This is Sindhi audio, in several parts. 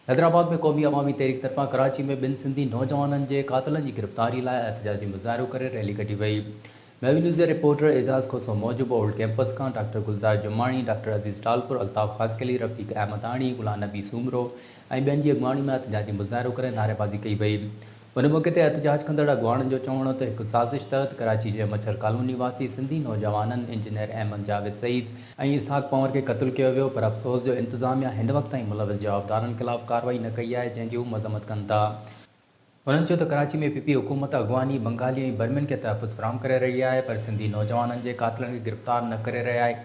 حيدرآباد ۾ قومي عوامي تحريڪ طرفان ڪراچي ۾ ٻن سنڌي نوجوانن جي قاتلن جي گرفتاري لاء احتجاجي مظاهرو ڪري ريلي ڪڍي وئي. ميوي نيوز جي رپورٽر اعجاز کوسو موجب اولڊ ڪيمپس کان ڊاڪٽر گلزار جماڻي، ڊاڪٽر عزيز ٽالپر، الطاف خاصخيلي، رفيق احمداڻي، غلام نبي سومرو ۽ ٻين جي اڳواڻي ۾ احتجاجي مظاهرو ڪري نعريبازي ڪئي وئي. ان موقعي تي احتجاج ڪندڙ اڳواڻن جو چوڻ هو ته هڪ سازش تحت ڪراچي جي مڇر ڪالوني واسي سنڌي نوجوانن انجنيئر احمد جاويد سعيد ۽ اسحاق پنور کي قتل ڪيو ويو پر افسوس جو انتظاميا هن وقت تائين ملوث جوابدارن خلاف ڪارروائي نه ڪئي آهي جنهن جي هو مذمت ڪن ٿا. هنن چيو ته ڪراچي ۾ پي پي حڪومت اڳواڻي بنگالي ۽ برمين کي تحفظ فراهم ڪري رهي آهي پر سنڌي نوجوانن جي قاتلن کي گرفتار نه ڪري رهي آهي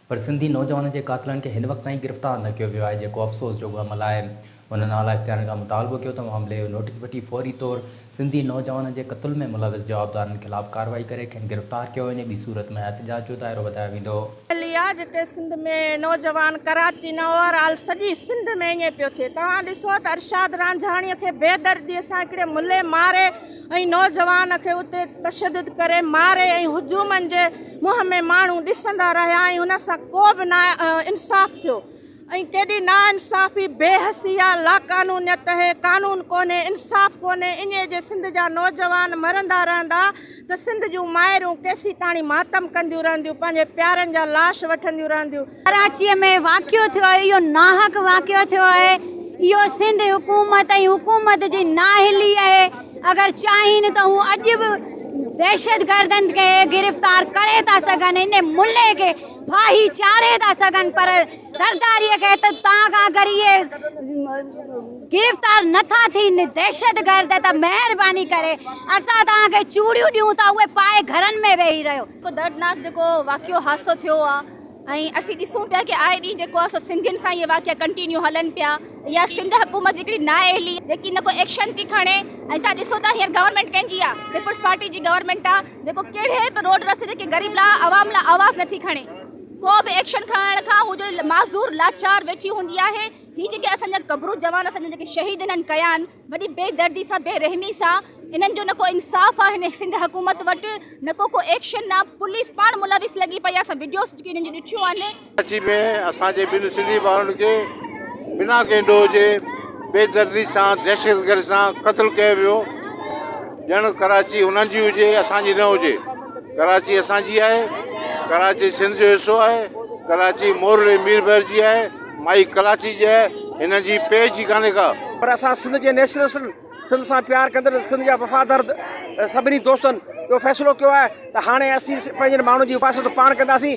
پر سنڌي نوجوانن جي قاتلن کي هن وقت تائين گرفتار نه ڪيو ويو آهي جيڪو افسوس جوڳو عمل آهي. انهن اعليٰ اختيارين کان مطالبو ڪيو ته معاملي جو نوٽيس وٺي فوري طور سنڌي نوجوانن جي قتل ۾ ملوث جوابدارن خلاف ڪارروائي ڪري کين گرفتار ڪيو وڃي ٻي صورت ۾ احتجاج جو دائرو وڌايو ويندو. ڳالهه اها آهي جتي سنڌ ۾ نوجوان ڪراچي نه اوور آل سڄي سنڌ ۾ ائين پيو ٿئي توهان ڏسو ته ارشاد رانجهاڻي کي بي دردي سان هڪڙي ملي ماري ۽ نوجوان کي اتي تشدد ڪري ماري ۽ هجومن جي منهن ۾ ماڻهو ڏسندا رهيا ۽ هن سان ڪو به نا انصاف ٿيو ۽ ڪيڏي نا انصافي بي حسي آ لاقانونيت هي قانون ڪونهي انصاف ڪونهي اڃي جي سنڌ جا نوجوان مرندا رهندا ته سنڌ جون مائرون ڪيسيتاڻي ماتم ڪنديون رهنديون پنهنجي پيارن جا لاش وٺنديون رهنديون ڪراچي ۾ واقعو ٿيو آهي اهو ناحق واقعو ٿيو آهي اهو سنڌ حڪومت ۽ حڪومت جي نااهلي آهي اگر چاهين ته هو اڄ به دهشت گردن کي گرفتار ڪري ٿا سگهن ان ملي کي ڦاهي چاڙهي ٿا سگهن پر زرداري کي ته تان کان اگر اهي گرفتار نٿا ٿين دهشت گرد ته مهرباني ڪري اسان تان کي چوڙيون ڏيون ٿا اهي پائي گهرن ۾ ويهي رهيو دردناڪ جيڪو واقعو حادثو ٿيو آهي ۽ اسين ڏسون پيا ڪي آئي ڏينهن جيڪو آ سو سنڌين سان اهي واقعا ڪنٽينيو هلن پيا يا سنڌ حڪومت جي ڪڙي نااهلي جيڪي نه ڪو ايڪشن ٿي کڻي ۽ تان ڏسو ته هينئر گورنمينٽ ڪنهن جي آ پيپلز پارٽي جي گورنمينٽ آ جيڪو ڪهڙي به روڊ رستي تي ڪي غريب لا عوام لا آواز نه ٿي کڻي ڪو به ايڪشن کڻڻ کان هو جو معذور لاچار ويٺي هوندي آهي هي جيڪي اسان جا قبرو جوان اسان جا جيڪي شهيد هنن ڪيا آن وڏي بي دردي سان بي رحمي سان انهن جو نه ڪو انصاف آ هن سنڌ حڪومت وٽ نه ڪو ڪو ايڪشن آ پوليس پاڻ ملوث لڳي پئي آ اسان وڊيوز جيڪي انهن جون ڏٺيون آهن. ڪراچي ۾ اسان جي ٻن سنڌي ڀائرن کي بنا ڪنهن ڏوهه جي بي دردي سان دهشتگردي سان قتل ڪيو ويو ڄڻ ڪراچي انهن جي هجي اسان جي نه هجي ڪراچي اسان جي آهي ڪراچي سنڌ جو حصو آهي ڪراچي مورل ميربحر جي آهي مائي ڪراچي جي هن جي پيج ئي ڪانهي ڪا. پر اسان سنڌ جي نيشنلسٽن سنڌ سان پيار ڪندڙ سنڌ جا وفادار سڀني دوستن اهو فيصلو ڪيو آهي ته هاڻي اسين پنهنجن ماڻهن جي حفاظت پاڻ ڪنداسين.